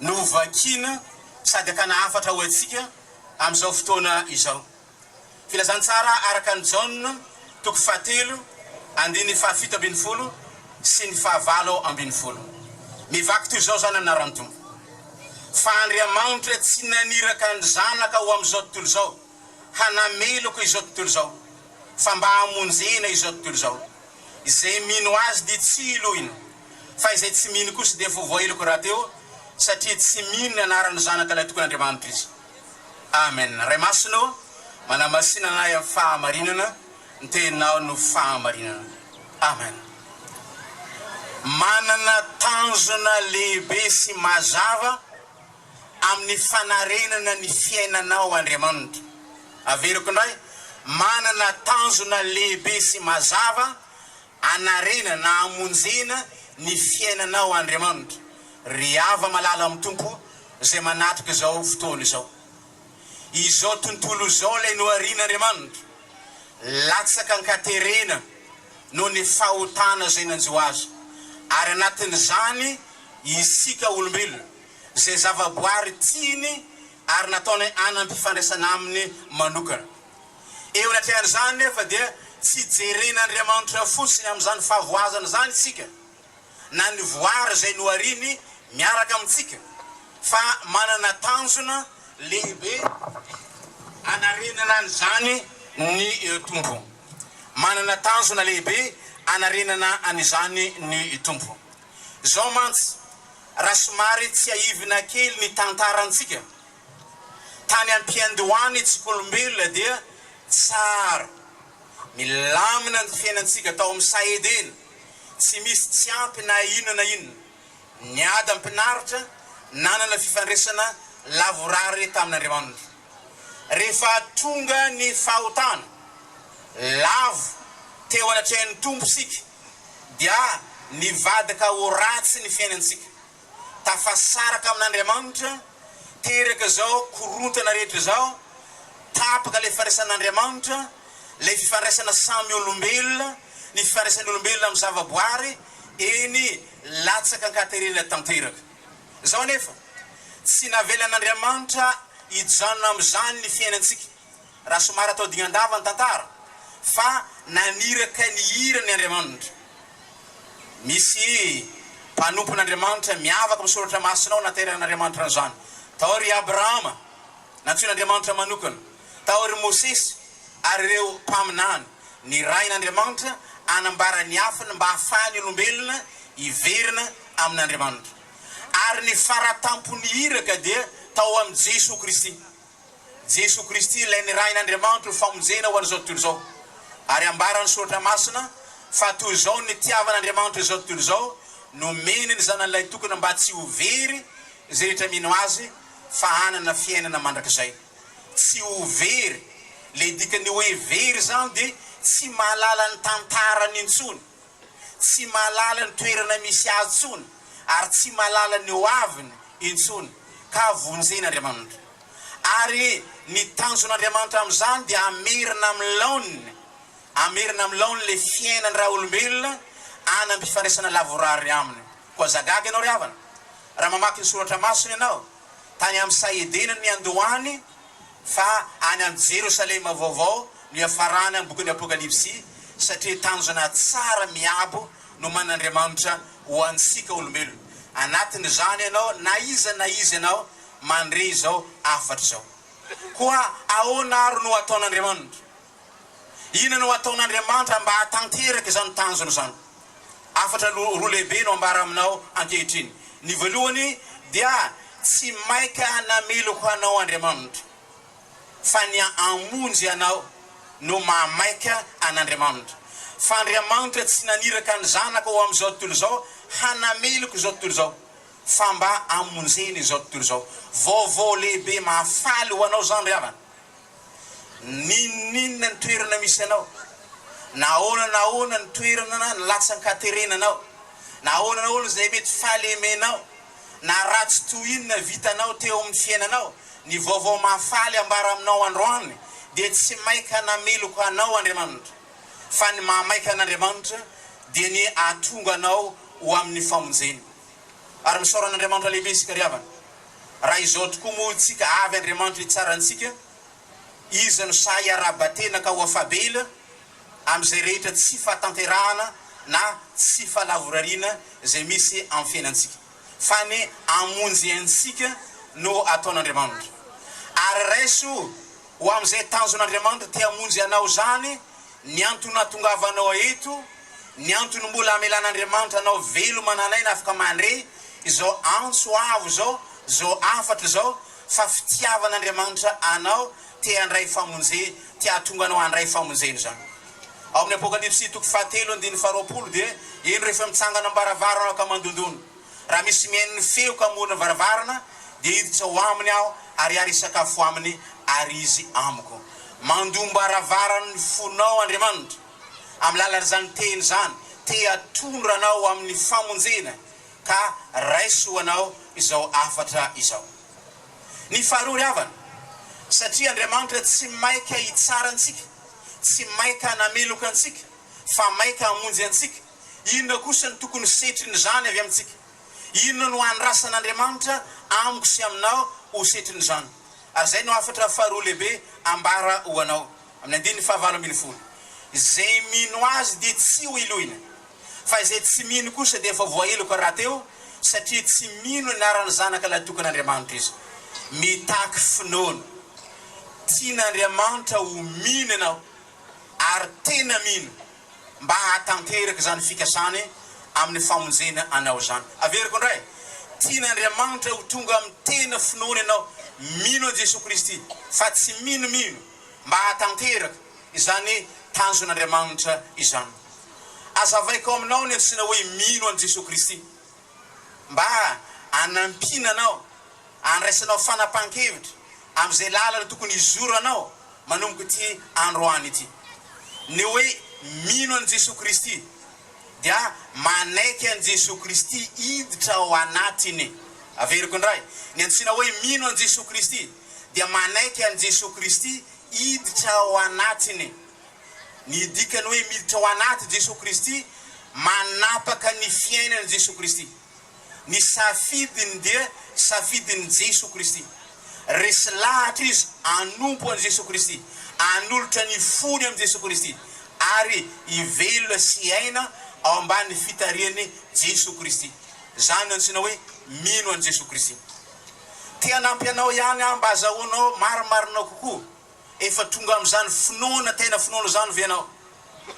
no vakiana sady akana hafatra ho antsika amin'izao fotoana izao. Filazantsara araka an'i Jaona toko fahatelo andininy fahafito ambin'ny folo sy ny fahavalo ambin'ny folo. Mivaky toy izao izany anaran'ny Tompo, Fa Andriamanitra tsy naniraka ny Zanaka ho amin'izao tontolo izao hanameloka izao tontolo izao, fa mba hamonjena izao tontolo izao. Izay mino Azy dia tsy hiloina. Fa izay tsy mino kosa dia voavoailoko rahateo, satria tsy mino ny anaran'ny Zanaka Ilay Tokon'Andriamanitra izy. Amen. Ray Masina ô, manamasina anay amin'ny fahamarinana, ny Teninao no fahamarinana. Amen. Manana tanjona lehibe sy mazava amin'ny fanarenana ny fiainanao Andriamanitra. Averiko indray, manana tanjona lehibe sy mazava Anarina na amonjena ny fiainanao Andriamanitra ry hava-malala amin'ny Tompo izay manatrika izao fotoana izao. Izao tontolo izao ilay noharian'Andriamanitra latsaka an-katerena noho ny fahotana izay nanjo azy, ary anatin'izany isika olombelona izay zava-boary tiany ary nataony hanam-pifandraisana aminy manokana. Eo anatrehan'izany nefa dia tsy jeren'Andriamanitra fotsiny amin'izany fahavoazana izany isika, na ny voary izay nohariny miaraka amintsika, fa manana tanjona lehibe anarenana an'izany ny Tompo. Manana tanjona lehibe anarenana an'izany ny Tompo. Izao mantsy, raha somary tsiahivina kely ny tantarantsika, Tany am-piandohan'ny tsikolombelona dia tsara, milamina ny fiainantsika tao amin'ny saha Edena, tsy misy tsy ampy na inona na inona. Ny adam-pinaritra nanana fifandraisana lavorary tamin'Andriamanitra. Rehefa tonga ny fahotana, lavo teo anatrehan'ny Tompo isika dia nivadika ho ratsy ny fiainantsika. tafasaraka amin'Andriamanitra, teraka izao korontana rehetra izao, tapaka ilay firaisan'Andriamanitra, ilay fifandraisana samy olombelona, ny fifandraisan'ny olombelona amin'ny zavaboary, eny, latsaka an-katerena tanteraka. Izao anefa, tsy navelan'Andriamanitra hijanona amin'izany ny fiainantsika. raha somary atao dingan-dava ny tantara, fa naniraka ny hirany Andriamanitra. Misy mpanompon'Andriamanitra miavaka amin'ny Soratra Masina ao naterahan'Andriamanitra an'izany. Tao ry Abrahama, nantsoin'Andriamanitra manokana. Tao ry Mosesy ary ireo mpaminany, nirahin'Andriamanitra hanambara ny afiny mba hahafahan'ny olombelona hiverina amin'Andriamanitra. Ary ny fara tampon'ny iraka dia tao amin'i Jesoa Kristy. Jesoa Kristy ilay nirahin' Andriamanitra ho famonjena ho an' izao tontolo izao. Ary ambaran' ny Soratra Masina fa toy izao ny nitiavan' Andriamanitra izao tontolo izao, nomeny ny Zanany Ilay Tokana mba tsy ho very izay rehetra mino Azy fa hanana fiainana mandrakizay. Tsy ho very, ilay dikan' ny hoe very izany dia tsy mahalala ny tantarany intsony. tsy mahalala ny toerana misy azy intsony ary tsy mahalala ny ho aviny intsony ka vonjen'Andriamanitra. Ary ny tanjon'Andriamanitra amin'izany dia hamerina amin'ny laoniny, hamerina amin'ny laoniny ilay fiainan'ny raolombelona hanam-pifandraisana lavorary Aminy. Koa zagaga ianao ry havana, raha mamaky ny Soratra Masina ianao, tany amin'ny saha Edena niandohany, fa any amin'ny Jerosalema vaovao no iafarana ny bokin'ny Apokalypsy, satria tanjona tsara miabo no manan'Andriamanitra ho antsika olombelona. Anatin'izany ianao na iza na iza ianao mandre izao hafatra izao. Koa ahoana ary no ataon'Andriamanitra? Inona no ataon'Andriamanitra mba hahatanteraka izany tanjona izany? Hafatra roa lehibe no ambara aminao ankehitriny. Ny voalohany dia tsy maika nameloko anao Andriamanitra, fa ny hamonjy anao no mahamaika an'Andriamanitra. Fa Andriamanitra tsy naniraka ny Zanaka ho amin'izao tontolo izao hanameloka izao tontolo izao, fa mba hamonjena izao tontolo izao. Vaovao lehibe mahafaly ho anao izany ry havana. N'inon'inona ny toerana misy anao, na ahoana na ahoana ny toerana na ny latsan-katerenanao, na ahoana na ahoana izay mety fahalemenao, na ratsy toy inona vitanao teo amin'ny fiainanao, ny vaovao mahafaly ambara aminao androany dia tsy maika nameloka anao Andriamanitra, fa ny mahamaika an'Andriamanitra dia ny ahatonga anao ho amin'ny famonjeny. Ary misaora an'Andriamanitra lehibe isika ry havana. Raha izao tokoa moa isika avy Andriamanitra hitsara antsika, Izy no sahy haraba-tena ka ho afa-bela amin'izay rehetra tsy fahatanterahana na tsy fahalavorariana izay misy amin'ny fiainantsika, fa ny hamonjy antsika no ataon'Andriamanitra. Ary raiso ho amin'izay tanjon'Andriamanitra te-hamonjy anao izany, Ny antony nahatongavanao ahy eto, ny antony mbola hamelan'Andriamanitra anao veloma nalaina afaka mandre izao antso avo izao, izao hafatra izao, fa fitiavan'Andriamanitra anao, te handray famonje, te hahatonga anao handray famonjena izany. Ao amin'ny Apokalypsy toko fahatelo andininy faharoapolo dia hoe, Eny rehefa mitsangana am-baravarana ka mandondona. Raha misy mihaino ny feoko amoron'ny varavarana, dia hiditra ao aminy aho ary ary hisakafo aminy ary izy amiko. Mandom-baravaran'ny fonao Andriamanitra, amin'ny lalan'izany teny izany, te hatondra anao ho amin'ny famonjena, ka raiso ho anao izao hafatra izao. Ny faharoa ry havana, satria Andriamanitra tsy maika hitsara antsika, tsy maika hanameloka antsika, fa maika hamonjy antsika, Inona kosa no tokony ho setrin'izany avy amintsika? Inona no andrasan'Andriamanitra amiko sy aminao ho setrin'izany? Ary izay no hafatra faharoa lehibe ambara ho anao, amin'ny andininy fahavalo ambin'ny folo, Izay mino Azy dia tsy ho iloina, fa izay tsy mino kosa dia efa voaheloka rahateo, satria tsy mino anaran'ny Zanaka lahitokin'Andriamanitra izy. Mitaky finoana. Tian'Andriamanitra ho mino ianao, ary tena mino. mba hahatanteraka izany fikasany amin'ny famonjena anao izany. Averiko indray, tian'Andriamanitra ho tonga amin'ny tena finoana ianao, mino an'i Jesoa Kristy, fa tsy minomino, mba hahatanteraka izany tanjon'Andriamanitra izany. Azavaiko aminao ny antsoina hoe mino an'i Jesoa Kristy. mba hanampiana anao, handraisanao fanapahan-kevitra amin'izay lalana tokony hizoranao manomboka ity androany ity. Ny hoe mino an'i Jesoa Kristy dia manaiky an'i Jesoa Kristy hiditra ao anatiny. Averiko indray, ny antsoina hoe mino an'i Jesoa Kristy dia manaiky an'i Jesoa Kristy hiditra ao anatiny. Ny dikany hoe miditra ao anaty Jesoa Kristy, manapaka ny fiainan'i Jesoa Kristy. Ny safidiny dia safidin'i Jesoa Kristy. Resy lahatra izy hanompo an'i Jesoa Kristy, hanolotra ny fony amin'i Jesoa Kristy, ary hivelona sy hiaina ao ambany fitarihan'i Jesoa Kristy. Izany no antsoina hoe mino an'i Jesoa Kristy. Te hanampy anao ihany aho mba hazahoanao marimarina kokoa Efa tonga amin'izany finoana tena finoana izany ve ianao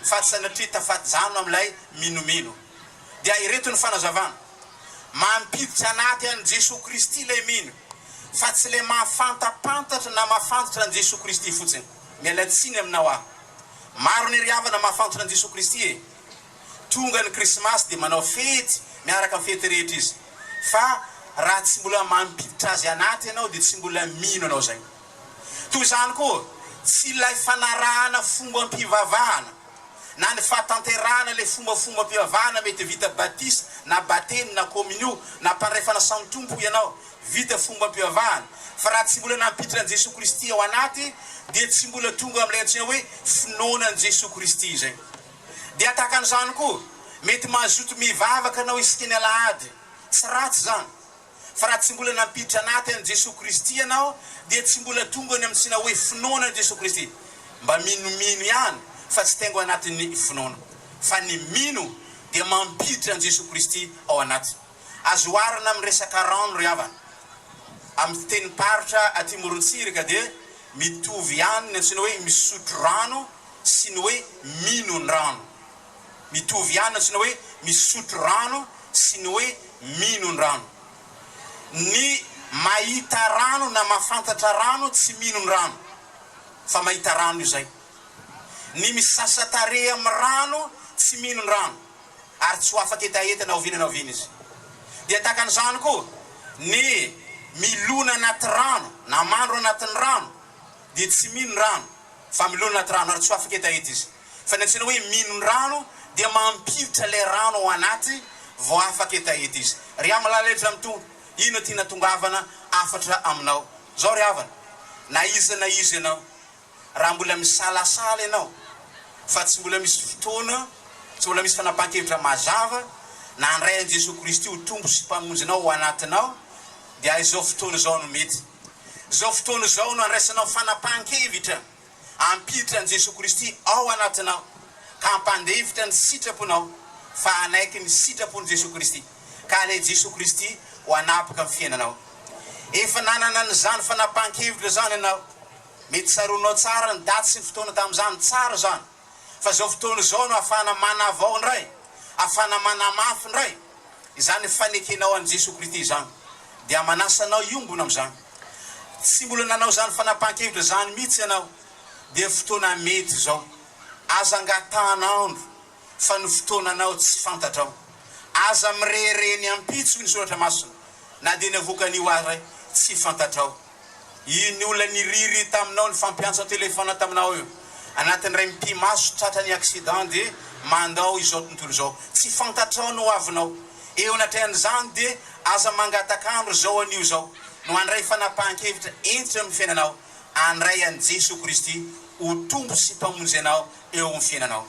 fa tsy sanatria tafajanona amin'ilay minomino? Dia ireto ny fanazavana, Mampiditra anaty an'i Jesoa Kristy ilay mino, fa tsy ilay mahafantapantatra na mahafantatra an'i Jesoa Kristy fotsiny. Miala tsiny aminao aho. Maro ny ry havana mahafantatra an'i Jesoa Kristy e! Tonga ny Krismasy dia manao fety miaraka amin'ny fety rehetra izy. Fa raha tsy mbola mampiditra Azy anaty ianao dia tsy mbola mino ianao izay. Toy izany koa, tsy ilay fanarahana fombam-pivavahana na ny fahatanterahana ilay fombafombam-pivavahana mety vita batisa na batemy na kôminio na mpandray-fanasana samy Tompo ianao, vita fombam-pivavahana, fa raha tsy mbola nampiditra an'i Jesoa Kristy ao anaty dia tsy mbola tonga amin'ilay antsoina hoe finoana an'i Jesoa Kristy izay. Dia tahaka an'izany koa, mety mazoto mivavaka anao iskin'ny alahady, tsy ratsy izany, Fa raha tsy mbola nampiditra anaty an'i Jesoa Kristy ianao dia tsy mbola tonga any amin'ny tsina hoe finoana an'i Jesoa Kristy. Mba minomino ihany fa tsy tengo anatin'ny finoana. Fa ny mino dia mampiditra an'i Jesoa Kristy ao anaty. Azo oharina amin'ny resaka rano ry havana. Amin'ny fitenim-paritra aty Morontsiraka dia mitovy ihany ny antsoina hoe misotro rano sy ny hoe mino ny rano. Mitovy ihany tsy ny hoe misotro rano sy ny hoe minon-drano. Ny mahita rano na mahafantatra rano tsy minon-drano fa mahita rano io izay. Ny misasa tarehy amin'ny rano tsy minon-drano ary tsy ho afaka hetaheta na oviana na oviana izy. Dia tahaka an'izany koa ny milona anaty rano na mandro anatin'ny rano dia tsy minon-drano. Fa milona anaty rano ary tsy ho afaka hetaheta izy. Fa ny antsoina hoe mino ny rano dia mampiditra ilay rano ao anaty vao afaka hetaheta izy. Ry Amilala Edry Ramitongwa, inona ity natongavana hafatra aminao izao ry havana? Na iza na iza ianao, raha mbola misalasala ianao fa tsy mbola misy fotoana, tsy mbola misy fanapahan-kevitra mazava na handray an'i Jesoa Kristy ho Tompo sy Mpamonjinao ao anatinao dia izao fotoana izao no mety. Izao fotoana izao no handraisanao fanapahan-kevitra hampiditra an'i Jesoa Kristy ao anatinao ka hampandefitra ny sitraponao fa hanaiky ny sitrapon'i Jesoa Kristy ka hanaiky Jesoa Kristy ho hanapaka amin'ny fiainanao. Efa nanana an'izany fanapahan-kevitra izany ianao. Mety tsaroanao tsara ny daty sy ny fotoana tamin'izany. Tsara izany. Fa izao fotoana izao no afahana manavao indray, afahana manamafy indray izany fanekenao an'i Jesoa Kristy izany. Dia manasa anao hiombona amin'izany. Tsy mbola nanao izany fanapahan-kevitra izany mihitsy ianao, dia fotoana mety izao. Aza angatahana andro, fa ny fotoananao tsy fantatrao. Aza mirehareha ny ampitso ny Soratra Masina, na dia ny avoakan'io aza tsy fantatrao. Iny olona niriry taminao nifampiantso an-telefaona taminao io anatin'ny iray mipi-maso tratra ny accident dia mandao izao tontolo izao tsy fantatrao ny hoavinao eo anatrehan'izany dia aza mangataka andro izao anio izao no handray fanapahan-kevitra hentitra eo amin'ny fiainanao handray an'i Jesoa Kristy ho Tompo sy Mpamonjy anao eo amin'ny fiainanao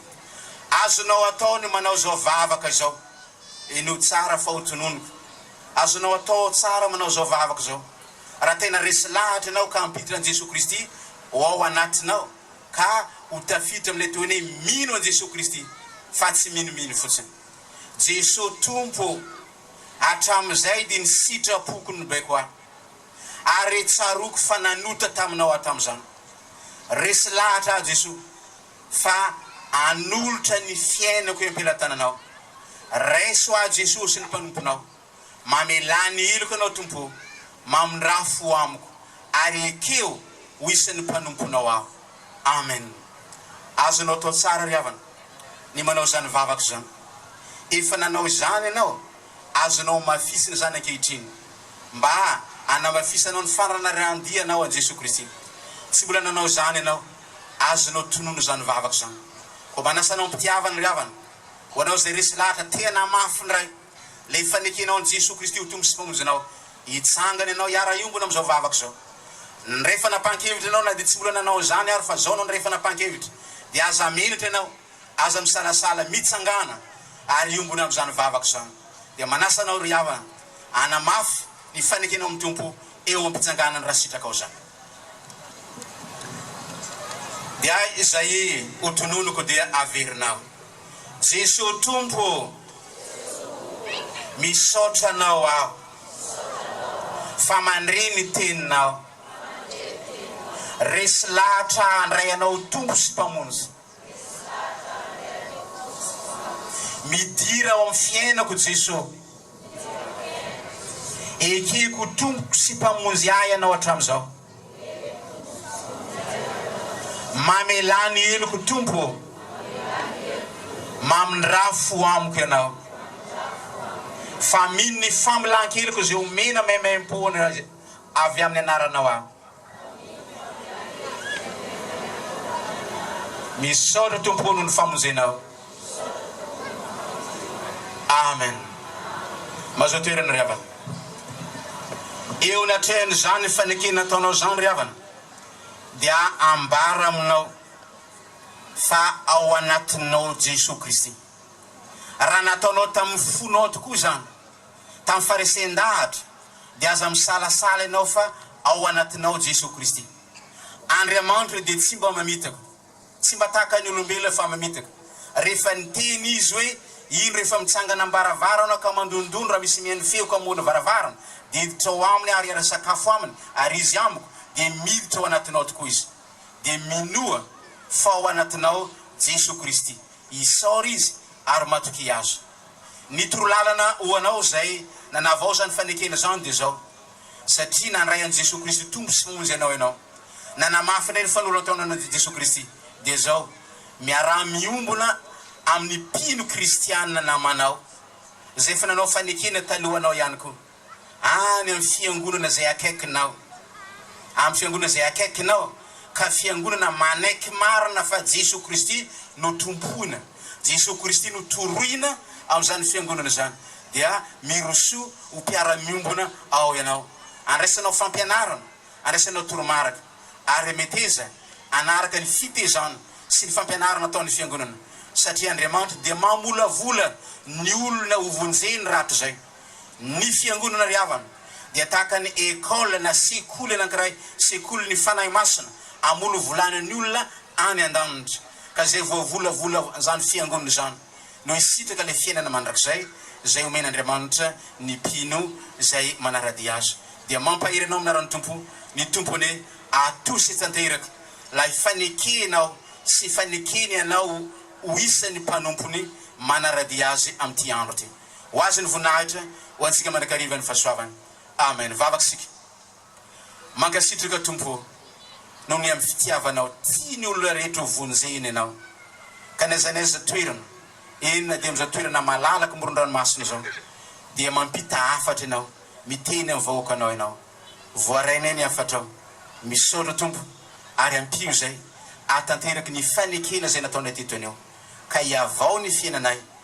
azonao atao ny manao izao vavaka izao eny ho tsara fa ho tononiko azonao atao tsara manao izao vavaka izao Raha tena resy lahatra ianao ka hampiditra an'i Jesoa Kristy ho ao anatinao ka ho tafiditra amin'ilay tohiny hoe mino an'i Jesoa Kristy fa tsy minomino fotsiny. Jesoa Tompo ô! Hatramin'izay dia ny sitrapoko no baiko ahy. Ary tsaroako fa nanota taminao aho tamin'izany. Resy lahatra aho Jesoa fa hanolotra ny fiainako iampelatananao. Raiso aho Jesoa sy ny mpanomponao. Mamelà ny hiloko Ianao, Tompo o, mamindrafo ho amiko, ary ekeo ho isan'ny mpanomponao aho. Amen. Azonao atao tsara ry havana ny manao izany vavaka izany. Efa nanao izany ianao, azonao hamafisina izany ankehitriny, mba hanamafisanao ny fananarahan-dianao an'i Jesoa Kristy. Tsy mbola nanao izany ianao, azonao tonona izany vavaka izany. Koa manasa anao am-pitiavana ry havana, ho anao izay resy lahatra te hanamafy ny Ray. Ilay fanekenao an'i Jesoa Kristy ho Tompo sy Mpamonjinao, hitsangana ianao hiara-hiombona amin'izao vavaka izao. Niray fanapahan-kevitra ianao na dia tsy mbola nanao izany ary fa izao no niray fanapahan-kevitra, dia aza menatra ianao, aza misalasala, mitsangàna ary hiombona amin'izany vavaka izany. Dia manasa anao ry havana, hanamafy ny fanekenao amin'ny Tompo eo am-pitsanganany raha sitrakao izany. Dia izay ho tononiko dia averinao. Jesoa Tompo ô! Misaotra Anao aho fa mandre ny Teninao. Resy lahatra handray Anao ho Tompo sy Mpamonjy. Midira ao amin'ny fiainako Jesoa. Ekeko ho Tompoko sy Mpamonjy ahy Ianao hatramin'izao. Mamelà ny heloko Tompo ô. Mamindrà fo amiko Ianao. Fa mino ny famelan-keloka izay omena maimaimpo avy amin'ny Anaranao aho. Misaotra Tompo ô noho ny famonjenao. Amen mazoa toerana ry havana eo ny atrehan izany fanekena ataonao izany ry havana dia ambara aminao fa ao anatinao Jesoa Kristy raha nataonao tamin'ny fonao tokoa izany tamin'ny faresehan-dahatra dia aza misalasala ianao fa ao anatinao Jesoa Kristy Andriamanitra dia tsy mba mamitaka Tsy mba tahaka ny olombelona fa mamitaka. Rehefa niteny izy hoe, Indro efa mitsangana am-baravarana ka mandondondona raha misy mihaino feo ka mamono varavarana, dia hiditra ao aminy aho ary hiara-sakafo aminy ary izy amiko, dia miditra ao anatinao tokoa izy. Dia minoa fa ao anatinao Jesoa Kristy. Isaora izy ary matokia Azy. Ny toro lalana ho anao izay nanavaozan'ny fanekena izany dia izao. satria nandray an'i Jesoa Kristy Tompo sy Monjy anao ianao, na namafy indray ny fanolantaonanao dia Jesoa Kristy, dia izao, miaraha miombona amin'ny mpino kristiana namanao, izay efa nanao fanekena talohanao ihany koa, any amin'ny fiangonana izay akaikinao, amin'ny fiangonana izay akaikinao, ka fiangonana manaiky marina fa Jesoa Kristy no tompoina. Jesoa Kristy no torohina amin'izany Fiangonana izany dia mirosoa ho mpiara-miombona ao ianao. Andraisanao fampianarana, andraisanao toromarika, ary meteza hanaraka ny fitezana sy ny fampianarana ataon'ny Fiangonana, satria Andriamanitra dia mamolavola ny olona hovonjeny rahatrizay. Ny Fiangonana ry havana dia tahaka ny école na sekoly anankiray, sekoly ny Fanahy Masina, amolovolana ny olona any andanitra, ka izay voavolavola izany Fiangonana izany no hisitraka ilay fiainana mandrakizay izay homen'Andriamanitra ny mpino izay manaradia Azy. Dia mampahery anao amin'ny anaran'ny Tompo, ny Tompo anie atosy tanteraka ilay fanekena ao sy fanekeny anao ho isan'ny mpanompony manaradia Azy amin'ity andro ity. Ho Azy ny voninahitra, ho antsika mandrakariva ny fahasoavana. Amen. Vavaka isika. Mankasitraka Tompo o, noho ny amin'ny fitiavanao, tia ny olona rehetra ho vonjena Ianao. Ka na aiza na aiza toerana, eny na dia amin'izao toerana malalaka amoron-dranomasina izao, dia mampita hafatra Ianao, miteny amin'ny vahoakanao Ianao. Voarainay ny hafatrao. Misaotra Tompo, ary ampio izay hahatanteraky ny fanekena izay nataonay teto anio, ka hihavao ny fiainanay